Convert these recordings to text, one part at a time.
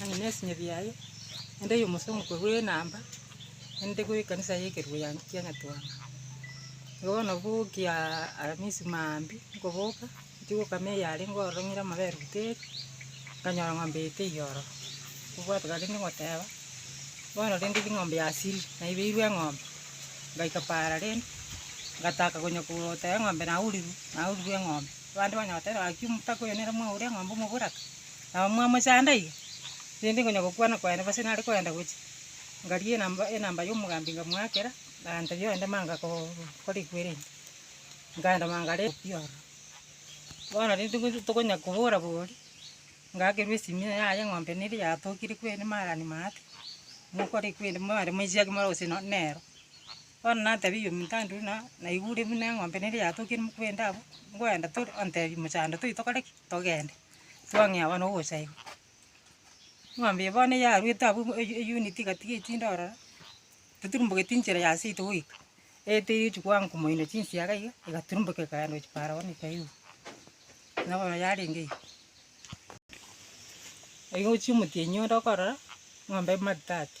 Ang'e nesinye biaye, ende yomosa omokwe bwe enamba, ende bwe ekanisa ye ekerubo ya kia Nyatwanga. Igo bono bokia aramisi maambia nkoboka, nchi gokama eyare ngorora ng'ire amabere buteri, nkanyora ng'ombe eye teiyo oro. Nkobwatana rende ngoteba, bono rende ri ng'ombe ya siri, naibeirwe eng'ombe. Ngaika paara rende, ngataka konya koteba eng'ombe nauriru, naurirwe eng'ombe. Abande banyare goteba, Gaki omotaka oyo nere mwaure eng'ombe omoboraka, nabo mwamochanda iga? Rende inwe onye gokwana kwaino gose nare kogenda gochia, ngaria enamba enamba y'omogambi ngamoakera, abanto bionde manga ko- korigwa erinde, nkaenda mangare obokia ororo. Bono rende gotu tokonya kobora boria, ngakerwa esimino yaye eng'ombe neri yatokire kweri marani maate, mokorigwa erinde mare moisiake more gose no- nero. Bono natebirie omonto ande buna naigure buna eng'ombe neria yatokirie mokuba ende abwo, nkoenda tore, ontebie mochando toiye tokore ki? Togende. Twang'ea bono gocha iga. Eng'ombe eye bono yaruete abwo e- eyunit iga tiga echinde ororo, toturumbogeti enchera ya seito goika, eete eria ochia koango komoino chinsiaga iga, egaturuboka ekagenda gochia paara bono ekaigu. Buna bono yarenge iga. Igo ochia omotienyi onde okorora, eng'ombe ebe matati.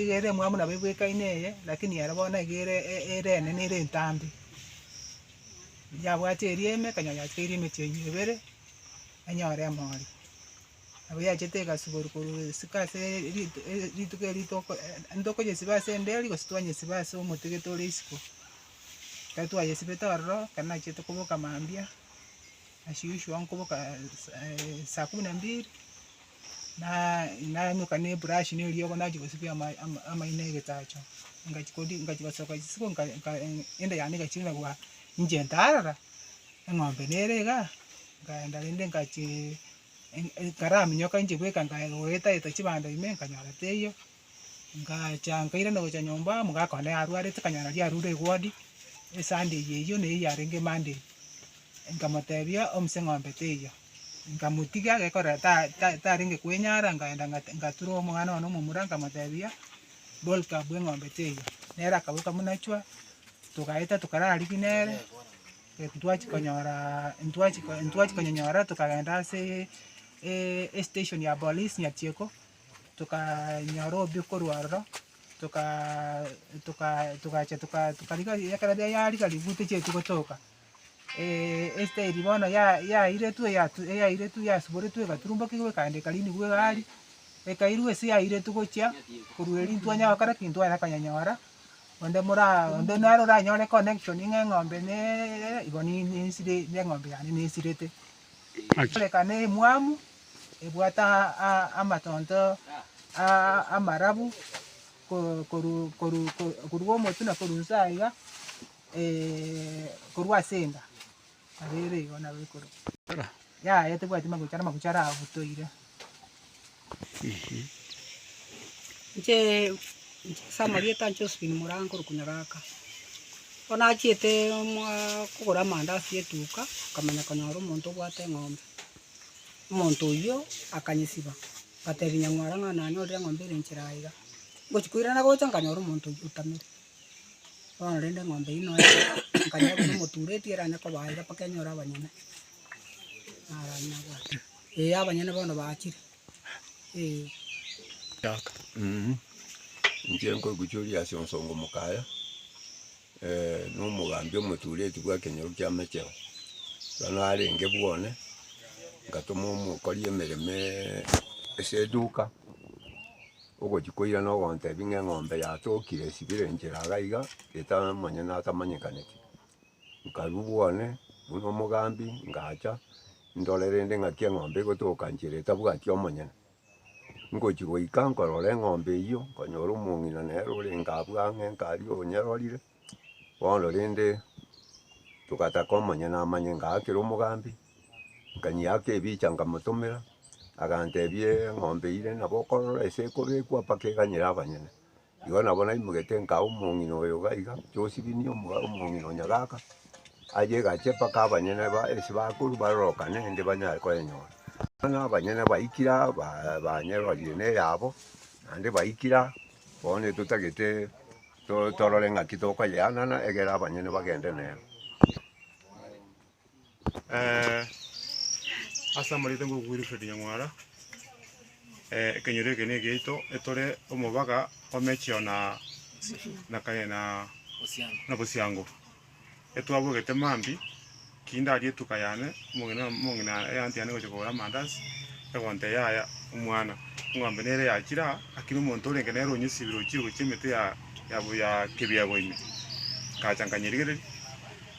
egere emwamu nabo ebwekaine eye, lakini ere bono iga ere ere enene ere entambe, yabwate eria ime ekonyora yatigeire emeti eyio ebere, enyore emori. Nabo yachete egasibori korwa esiko ase ritu eri- rituko erio toko ntokoyesiba ase endeli gose twanyesiba ase omotigete ore isiko. Ekero twayesibete ororo, ekero nachete koboka mambia. Ase Yoshua nkoboka saa kumi na mbiri, na- naimoka na eburashi na eriogo nachia gosibia ama- ama- amaino ya egesacha. Ngachia kori- ngachia gosoka isiko nka- nka- enda yane egachira na kobua inche ntarora, eng'ombe nere igaa, nkaenda rende ngachia nkaraaminyoka inche bweka nkaye goetaeta chibando ime nkanyora teiyo, Ngacha nkairana gocha nyomba, omogaka one arwarete, kanyara aria arure eward, esande eye eyio neyio yarenge emonday, nkamotebia omise eng'ombe teiyo, nkamotiga gekorera ta- ta- tarenge koenyara, nkaenda ng'at- ngatura omwana one omomura nkamotebia, boolka bwa eng'ombe teiyo, nere akaboka buna chwa, togaeta tokarara rigiya nere, ntwachi konyora ntwachi ko- ntwachi konyonyora tokagenda ase estation ya police Nyachieko. tokanyora obuya korwa aroro, toka toka togacha toka tokariga ekero yaria yariga ribu tochieti gotoka esitairi bono ya yairetwe eyatu eyairetwe yasiboretwe egaturumbokigwa egaandeka riini igwe iga aria, ekairwa ase yairetwe gochia korwa erio ntwanya gokora ki? Ntwanya konyanyora onde mora onde naro oranyore connection ng'a eng'ombe ne igo ni- ni- nisire ne eng'ombe yane nesirete. Amaki. Erekano emwamu ebwate amatonto amarabu korwa omotwe na korwa inse aiga, korwa ase enda, nabo ere igo nabo ekoruga. Yaya tebwati amagucha, amagucha arabutoire. Inche ase amarieta a Josephine Moraa nkorokwa Nyagaka. Bono nachiete moaa kogora amandazi etuka, nkamanya konyora omonto obwate eng'ombe. Omonto oyio akanyesiba, ngatebia nyamwara ng'a nanyorire eng'ombe ere nchera aiga. Ngochia koirana gocha nkanyora omonto oyio otamere. Bono rende eng'ombe eyio nonya nkanyora buna emoturetie eranyare koba aiga mpaka enyore abanyene. Naranyabwate. Ee, abanyene bono bachire, ee. Inche nkoiguchoria ase onsongo mokaya, na omogambi omotureti bwa ekenyoro kia amacheo. Ekero narenge bwa one, ngatoma omokori emeremo ase eduka, ogochia koirana ogontebia ng'a eng'ombe yatokire esibire enchera iga, etamanyene atamanyekaneti. Nkarua bwane buna omogambi, ngacha ndore rende ng'aki eng'ombe egotoka nchera etabwati omonyene. Ngochia goika nkorora eng'ombe eyio, nkonyora omong'ina nere orenge abwo ang'e nkaria onyerorire, bono rende togataka omonyene amanye ngaakire omogambi, nkanyeaka ebicha nkamotomera, agantebia eng'ombe eywo rende nabo okorora ase ekobekwa mpaka eganyire abanyene. Igo nabo naimogetie nkaa omong'ina oyo iga iga, Josibini omogaka omong'ina o nyagaka, aye egache mpaka abanyene ba ase bakorwa barorokane rende banyare koyenyora. Bono abanyene baikire aa baa banyerorie na eyabo, naende baikire aa, bono etotagete to torore ng'aki tokoyeanana egere abanyene bagende nere. Ase amarieta ngoko kwa Wilfred Nyang'wara, ekenyoro eke negiaito etore omobaga o Mechio na na kaye na na Bosiango. Etwabogete mambia ki ndaria etuka yane omong'ina omong'ina ya anti yane gocha kogora amandazi egonte yaya omwana eng'ombe nere yachire aa aki na omonto orenge nere onyesibire ochire gochia emete ya ya ya kebiabo ime. Ngacha nkanyerigereria.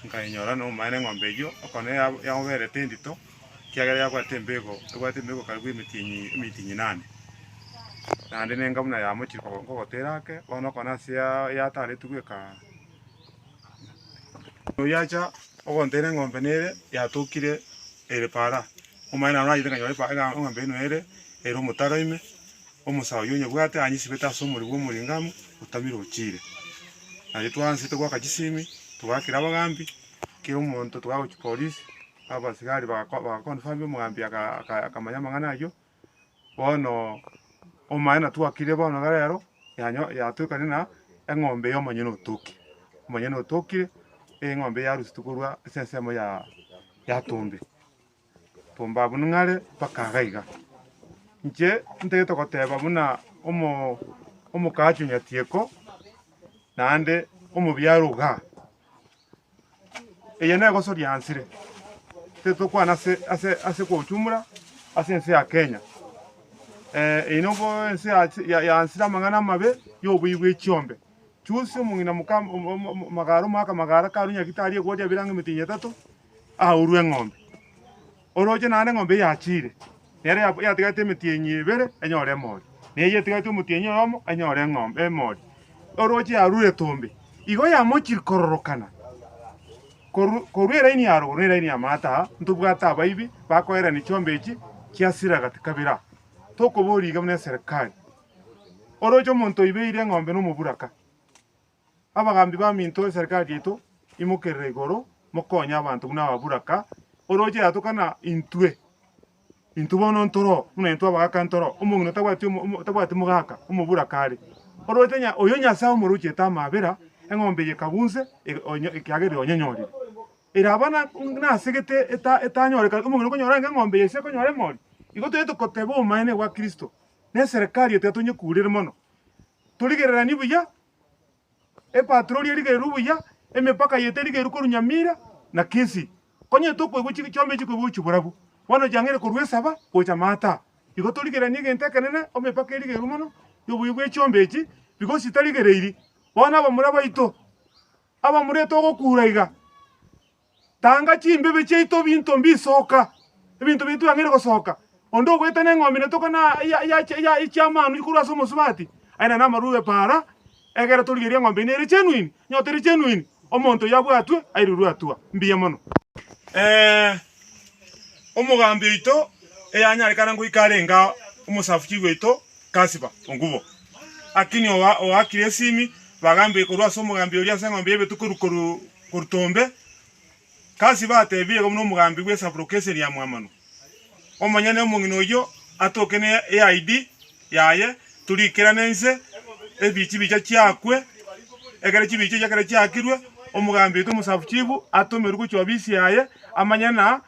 Nkayenyora nomobaene eng'ombe eyio, okona yagoberete endito, ekiagera yabwate embego, ebwate embego karibu emetienyi emiti inyinane. Naende nenga buna yamochire nkogotera ake, bono okona ase yataretwe goika oyio acha ogontera eng'ombe nere yatokire ere para, omobaene nanyete nkanyora eng'ombe eyio nere ere omotaro ime. Omosaa oyio onyebwate anyisibete ase omori bw'omoring'amu otamire ochiire. Nario twaanse togoaka chisimi, togaakera abagaambi, kera omonto togaakwa chipolisi, abasigari baga bagaconfirm omogaambi aka akamanya amang'ana ayio. Bono omaene twakire bono iga rero yanyo yatuekane na eng'ombe y'omonyene otoki, omonyene otokire, eng'ombe yarusitu korwa ase ensemo ya yatombe. Tomba buna ng'are mpaka iga iga. Inche ntagete goteba buna omokachi o nyatieko, naende omobiarwa iga. Eye negoso riansire, titokwana ase ase ase kwa ujumla ase ense ya Kenya. Eye nobo ense yansire amang'ana amabe, ya oboiyi bwa echiombe. Chusi omong'ina moka magaro omogaka magara karwe nyagita arie egori abere ang'e emetino etato. aurwe eng'ombe. Oroche naende eng'ombe eyio yachiire, nere ya- yatigaete emetienyi ebere enyore emori, na eyio etigaete omotienyi oyomo enyore eng'ombe emori. Oroche yarure etombe, igo yamochiri kororokana korwa korwa eraini ya rogoro na eraini ya maata aa, ntobwate abaibi bakoerani chiombe echi chia sira gati kabere aa, tokoboria iga buna eserekari. Oroche omonto oibeire eng'ombe na omoburaka. Abagaambi baminto y'eserikari yaito, imokerere igoro, mokonye abanto buna aba Buraka, orooche yatokana intwe. Intwe bono ntoro, buna intwe abagaka ntoro, omong'ina otabwati omo, otabwati mogaka, omoburaka are. Orooche nya, oyo Nyasae omorochete amaabera, eng'ombe eye ekabunse, ege, onye, ekiagera ere onyenyorire. Ere aba na, nasegete eta, etanyorekane, omong'ina okonyora ng'a eng'ombe eye sekonyora emori. Igo toyete koteba obomaene bwa Kristo, na eserikari yaito yatonye kuurere mono. Torigereranie buya, Epatroli erigererwe buya, emepaka yaito erigerwe korwa Nyamira na Kisii. Konya tokoigwa chi chiombe echi chikoigwa gochia borabu, bono chiang'eire korwa esaba gocha maata. Igo torigereranie egento ekenene, emepaka erigerwe mono y'obuya bwe chiombe echi, because chitarigereiri. Bono abamura baito, abamura togokuura iga. Tanga chimbibe chiaito binto mbisoka, ebinto biaito biang'aine gosoka. Onde ogoeta neng'ombe ina tokana na chi'amanu ikorwa ase omosubati, aye nere namarwa bw'epaara, egere torigerie eng'ombe ina ere genuine, onye otari genuine, omonto oyio abwatwe, airirwe atua. Mbuya mono. Omogambi oito eyanyarekana ngoika arenge omosafuchi oito Kasiba Ongubo, akini oakire esimi, bagambe korwa ase omogambi oria ase eng'ombe y'ebetuko korwa. Kortombe, Kasi bateebie iga buna omogambi bw'esaburoka eseni ya mwamanu, omonyene omong'ina oyio atoke ne eaidi yaye, toriikerane inse, ebichibicha chiakwe, ekero chibicha echi ekero chiakirwe, omogambi oito omosabuchibu atomerwe gochia obisi yaye, amanye na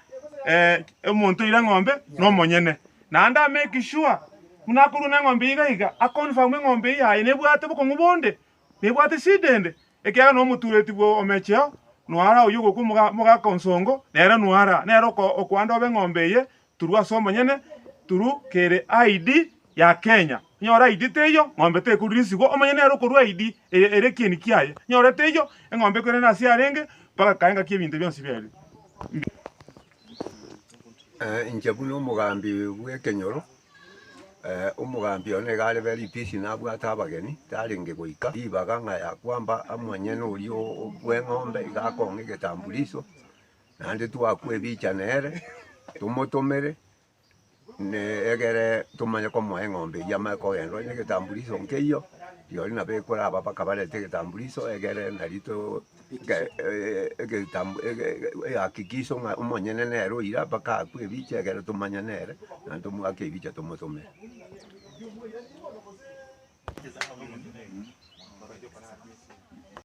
omonto oire eng'ombe nomonyene. Naende amake sure buna akorwa neng'ombe iga iga, aconfirm eng'ombe eye yaye nebwate bokong'u bonde, nebwate shida ende, ekiagera nomotureti bw'omecheo noara oyio ogokwa omogaka o nsongo, nere noara, nere okoanda obe eng'ombe eye turu ase omonyene turu kere ID ya Kenya. Onyore ID teiyo, ng'ombe tekoruresigwa, omonyene nere okorua ID eye ere ekieni kiaye. Onyore teiyo, eng'ombe ekwerene ase yarenge mpaka kae ngaki ebinto bionsi biaye bire. Inche buna omogambi bw'ekenyoro, Omogambi oyo nigo arebe ripisi nabwate abageni, tarenge goika ribaga ng'a ya kwamba omonyene oria o- bw'eng'ombe iga akong'a egetambulisho, naende twakwa ebicha nere, tomotomere ne egere tomanye komoa eng'ombe eyio amanye kogenda onye egetambulisho nkeiyo, rirorio nabo ekoraba mpaka barente egetambulisho egere nari to. Egakikiswa ng'a omonyene nere oira mpaka akwe ebiche ekero tomanya nere, na tomoake ebiche tomotomere.